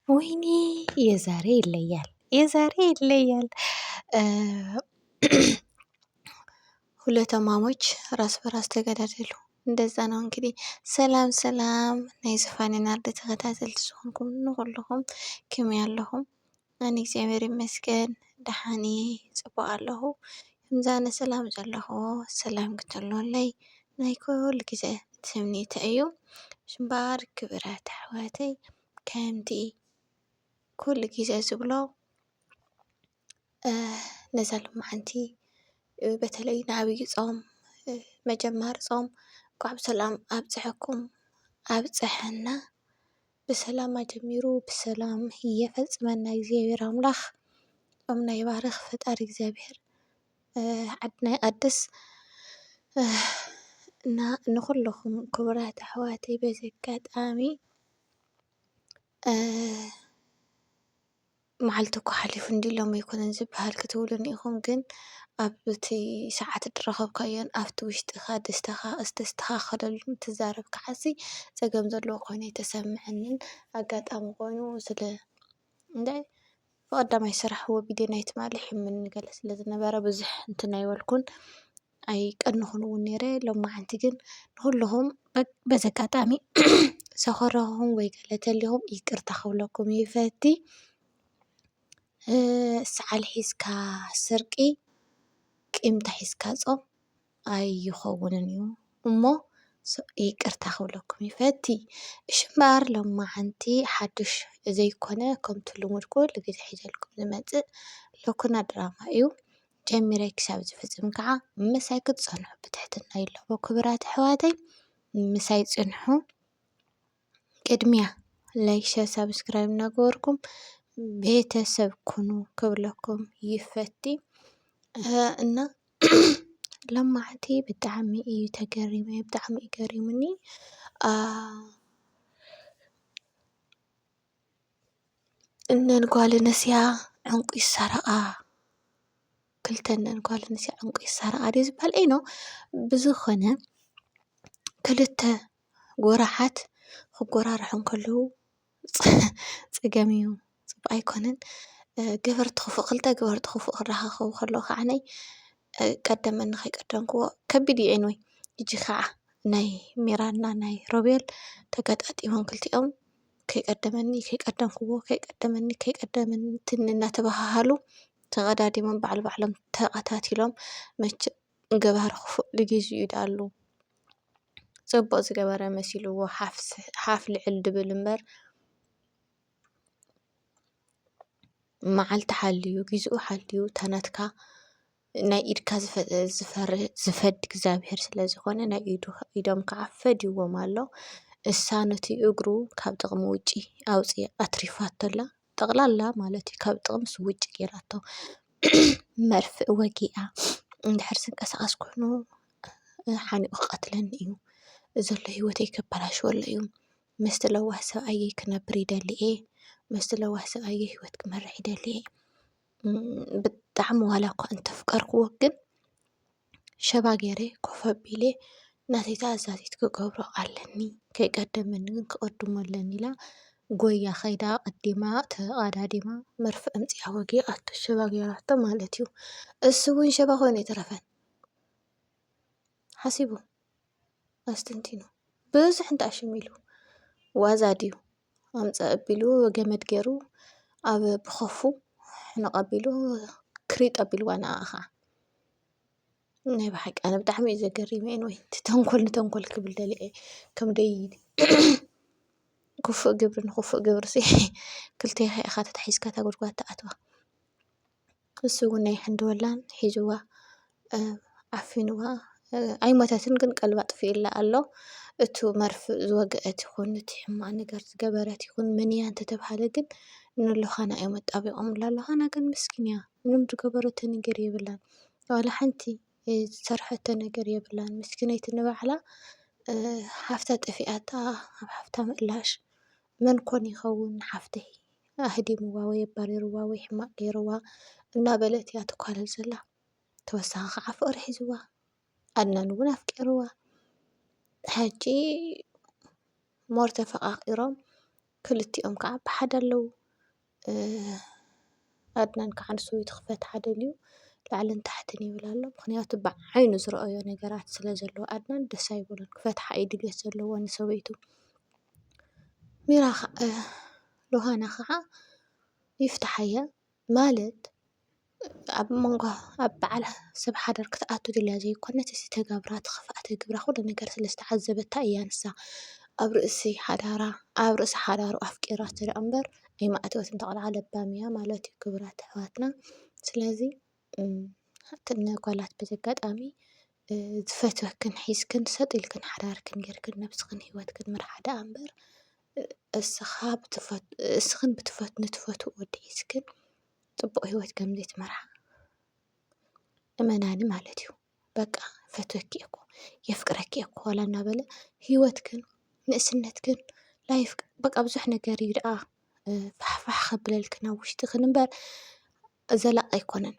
ወይኔ የዛሬ ይለያል የዛሬ ይለያል። ሁለት እማሞች ራስ በራስ ተገዳደሉ። እንደዛ ነው እንግዲህ። ሰላም ሰላም ናይ ዝፋንን ኣርዲ ተኸታተልቲ ዝኾንኩም ንኹልኹም ክም ያለኹም ኣነ እግዚኣብሔር ይመስገን ደሓኒ ጽቡቅ ኣለኹ። እምዛነ ሰላም ዘለኹ ሰላም ክትህልወለይ ናይ ኩሉ ግዜ ትምኒተይ እዩ። ሽምባር ክብረት ኣሕዋተይ ከምቲ ኩሉ ግዜ ዝብሎ ነዛ ሎምዓንቲ በተለይ ንኣብይ ፆም መጀመሪ ፆም እንኳዕ ብሰላም ኣብፀሐኩም ኣብፀሐና ብሰላም ኣጀሚሩ ብሰላም የፈፅመና እግዚኣብሔር ኣምላክ ፆምና ይባርክ ፈጣሪ እግዚኣብሔር ዓድና ይቀድስ እና ንኩልኩም ክቡራት ኣሕዋተይ በዚ ኣጋጣሚ። መዓልቲ እኳ ሓሊፉ እንድዩ ሎሚ ኣይኮነን ዝበሃል ክትብሉኒ ኢኹም ግን ኣብቲ ሰዓት እትረኸብካዮን ኣብቲ ውሽጥኻ ደስታኻ ዝተስተኻኸለሉን ትዛረብ ክዓሲ ጸገም ዘለዎ ኮይኑ ኣይተሰመዐንን ኣጋጣሚ ኮይኑ ስለ እንታይ ብቐዳማይ ስራሕ ወጊዲ ናይ ትማሊ ሕምም ገለ ስለ ዝነበረ ብዙሕ እንትን ኣይበልኩን። ኣይቀንኹን እውን ነይረ ሎማዓንቲ ግን ንኹልኹም በዚ ኣጋጣሚ ዘኾረኹኹም ወይ ገለ እንተሊኹም ይቅርታ ክብለኩም ይፈቲ። ሰዓል ሒዝካ ስርቂ ቂምታ ሒዝካ ፆም ኣይኸውንን እዩ እሞ ይቅርታ ክብለኩም ይፈቲ። እሺ እምበኣር ሎማዓንቲ ሓዱሽ ዘይኮነ ከምቲ ልሙድ ኩሉ ግዘ ሒዘልኩም ዝመፅእ ሎኩና ድራማ እዩ። ጀሚረ ክሳብ ዝፍጽም ከኣ ምሳይ ክትጸንሑ ብትሕትና ይላቦ ክብራት ኣሕዋተይ ምሳይ ጽንሑ ቅድሚያ ላይክ ሸር ሳብስክራይብ እናገበርኩም ቤተሰብ ኩኑ ክብለኩም ይፈቲ እና ለማዕቲ ብጣዕሚ እዩ ተገሪመ ብጣዕሚ እዩ ገሪሙኒ እነን ጓል ኣነስያ ዕንቁ ይሳረቃ ክልተ እነን ጓል ኣነስያ ዕንቁ ይሳረቃ ድዩ ዝባሃል ኤይ ኖው ብዝኮነ ክልተ ጎራሓት ክጎራርሑ ከለው ፀገም እዩ ፅቡቅ ኣይኮነን ገበርቲ ክፉእ ክልተ ገበርቲ ክፉእ ክራከቡ ከለው ከዓ ቀደመኒ ከይቀደምክዎ ከቢድ እዩ ኤኒወይ ሕጂ ከዓ ናይ ሚራን እና ናይ ሮቤል ተጋጣጢሞም ክልቲኦም። ከይቀደመኒ ከይቀደምክዎ ከይቀደመኒ ከይቀደመኒ ትኒ እናተባህሃሉ ተቐዳዲሞም ባዕሉ ባዕሎም ተቐታቲሎም መቸም ገባሪ ክፉእ ንግዚኡ ድኣሉ ፅቡቕ ዝገበረ መሲልዎ ሓፍ ልዕል ድብል እምበር መዓልቲ ሓልዩ ጊዝኡ ሓልዩ እታ ናትካ ናይ ኢድካ ዝፈሪ-ዝፈርድ እግዚኣብሄር ስለ ዝኾነ ናይ ኢዱ ኢዶም ከኣ ፈድይዎም ኣሎ። እሳ ነቲ እግሩ ካብ ጥቕሚ ውጪ ኣውጽኣ ኣትሪፋቶ ኣላ። ጠቕላላ ማለት እዩ ካብ ጥቕምስ ውጪ ጌራቶ። መርፍእ ወጊኣ እንድሕር ዝንቀሳቐስ ኮይኑ ሓኒቑ ክቐትለኒ እዩ። ዘሎ ህይወተይ ከበላሽወሉ እዩ። ምስቲ ለዋህ ሰብኣየይ ክነብር ይደሊ እየ። ምስቲ ለዋህ ሰብኣየይ ህይወት ክመርሕ ይደሊ እየ። ብጣዕሚ ዋላ እኳ እንተፍቀርኩዎ ግን ሸባ ገይረ ኮፍ ኣቢለ ናተይ ተኣዛዚት ክገብሮ ኣለኒ ከይቀደመኒ ግን ክቅድሞ ኣለኒ ኢላ ጎያ ከይዳ ኣቀዲማ ተቀዳዲማ መርፍእ ኣምፂኣ ወጊኣቶ ሸባ ገይራቶ ማለት እዩ። እሱ እውን ሸባ ኮይኑ ኣይተረፈን ሓሲቡ። ኣስተንቲኑ ብዙሕ እንትኣሽም ኢሉ ዋዛ ድዩ ኣምፀ ኣቢሉ ገመድ ገይሩ ኣብ ብኸፉ ሕንቕ ኣቢሉ ክሪጥ ኣቢልዋ ንኣ ኸዓ ናይ ብሓቂ ኣነ ብጣዕሚ እዩ ዘገሪመ ወይ እቲ ተንኮል ንተንኮል ክብል ደሊዐ ከምደይ ክፉእ ግብሪ ንኽፉእ ግብሪ ሲ ክልቴኻ ኢኻ ተታሒዝካ እታ ጉድጓድ ትኣትዋ። ንሱውን ናይ ሕንደወላን ሒዝዋ ዓፊንዋ ኣይሞተትን ግን ቀልባ ኣጥፊኡላ ኣሎ። እቱ መርፍእ ዝወገአት ይኹን እቲ ሕማቅ ነገር ዝገበረት ይኹን መን እያ እንተተብሃለ ግን ንሎኻና እዮም ኣጣቢቆምላ ሎኻና ግን ምስኪን እያ ምንም ዝገበረቶ ነገር የብላን ዋላ ሓንቲ ዝሰርሐቶ ነገር የብላን ምስኪነይቲ ንባዕላ ሓፍታ ጠፊኣታ ኣብ ሓፍታ ምእላሽ መን ኮን ይኸውን ሓፍተይ? ኣህዲምዋ ወይ ኣባሪርዋ ወይ ሕማቕ ገይርዋ እናበለት እያ ትኳለል ዘላ። ተወሳኺ ከዓ ፍቕሪ ሒዝዋ፣ ኣድናን እውን ኣፍቂርዋ። ሕጂ ሞር ተፈቓቒሮም ክልቲኦም ከዓ ብሓደ ኣለዉ። ኣድናን ከዓ ንሰበይቱ ክፈትሓ ደልዩ ላዕልን ታሕትን ይብል ኣሎ። ምኽንያቱ ብዓይኑ ዝረኣዮ ነገራት ስለ ዘሎ ኣድናን ደስ ኣይብሎን። ክፈትሓ እዩ ድልየት ዘለዎ ንሰበይቱ። ሚራ ኸኣ ዮሃና ኸኣ ይፍትሓዮ ማለት ኣብ መንጎ ኣብ በዓል ሰብ ሓዳር ክትኣቱ ድልያ ዘይኮነት እቲ ተገብራ እቲ ክፍኣት ግብራ ኩሉ ነገር ስለ ዝተዓዘበታ እያ ንሳ ኣብ ርእሲ ሓዳራ ኣብ ርእሲ ሓዳሩ ኣፍቂራ ትርኣ እምበር ኣይምኣተወትን እታ ቆልዓ ለባም እያ ማለት እዩ ክቡራት ኣሕዋትና ስለዚ። እተን ጓላት በዚ ኣጋጣሚ ዝፈትወክን ሒዝክን ሰጥ ኢልክን ሓዳርክን ጌርክን ነብስኽን ሂወትክን ምርሓ ደኣ እምበር እስኽን ንትፈትዉዎ ወዲ ሒዝክን ፅቡቕ ሂወት ከም ዘይትመርሓ እመናኒ ማለት እዩ። በቃ ይፈትወኪ እየ እኮ የፍቅረኪ እየ እኮ ዋላ እናበለ ሂወትክን ንእስነትክን ላይፍክን በቃ ብዙሕ ነገር እዩ ደኣ ፋሕፋሕ ከብለልክን ኣብ ውሽጥኽን እምበር ዘላቂ ኣይኮነን።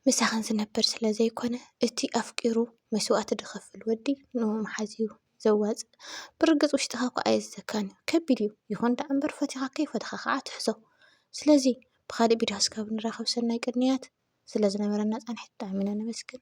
ምሳኽን ዝነብር ስለ ዘይኮነ እቲ ኣፍቂሩ መስዋእቲ ዝኸፍል ወዲ ንኡ ምሓዝ እዩ ዘዋፅእ። ብርግፅ ውሽጥኻ እኳ ኣየዘካን እዩ ከቢድ እዩ ይኹን ደኣ እምበር ፈቲኻ ከይፈተኻ ከዓ ትሕዞ። ስለዚ ብኻሊእ ቪድዮ እስካብ ንራኸብ ሰናይ ቅንያት። ስለ ዝነበረና ፃንሒት ብጣዕሚ ኢና ነመስግን።